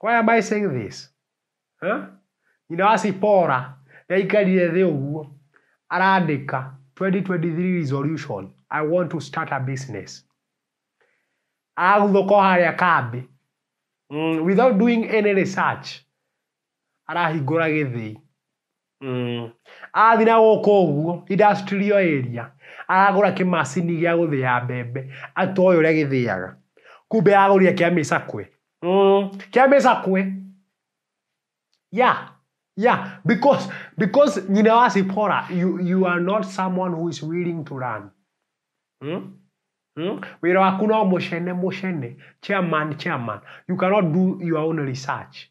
Why am I saying this? Eh? Nyina wa Sipora ndaikarire thĩ ũguo arandĩka 2023 resolution I want to start a business araguthũka harĩa kambĩ mm, without doing any research arahingũra gĩthĩi Mm. Athiĩ na gũkũ ũguo industrial area aragũra kĩmacini gĩa gũthĩa mbembe atoĩ ũrĩa gĩthĩaga kumbe aragũrire kĩa mĩcakwe mm. kĩa mĩcakwe yeah yeah because because nyina wa Sipora you, you are not someone who is willing to learn mm? Mm? wĩra waku no mũcene mũcene chairman chairman you cannot do your own research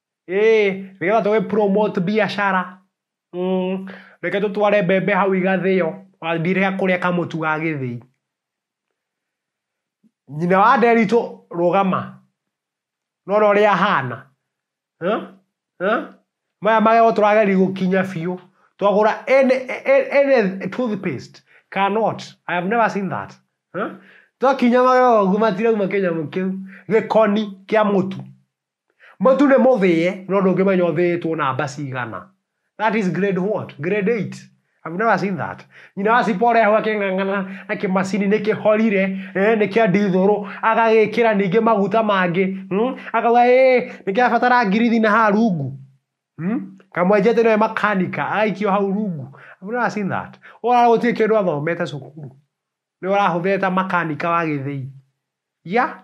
Ĩĩ, nĩgetha tũgĩ promote mbiacara, reke tũtware mbembe hau igathĩo, wathiĩ rĩrĩa kũrĩa kamũtu ga gĩthĩi. Nyina wa Nderitu rũgama, nĩwona ũrĩa ahana? Maya magego tũrageria gũkinya biũ, twagũra any any toothpaste cannot, I have never seen that. Twakinya magego ũguo matirauma kĩnyamũ kĩu, gĩkoni kĩa mũtu. Mũtu nĩ mũthĩe no ndũngĩmenya ũthĩĩtwo namba cigana. That is grade what? Grade 8. Have you never seen that? Nyina wa cipa ũrehwo akĩng'ang'ana na kĩmacini nĩ kĩhorire, eh, nĩ kĩa ndithũrũ, agagĩkĩra ningĩ maguta mangĩ, hmm? akauga ĩĩ nĩ kĩrabatara ngirithi na haha rungu. Hmm? Kamwenje atĩ nĩwe makanika, agaikio hau rungu. Have you never seen that? Ũrara gũtirĩ kĩndũ athomete cukuru. Nĩ ũrahũthĩra ta makanika wa gĩthĩi. Yeah?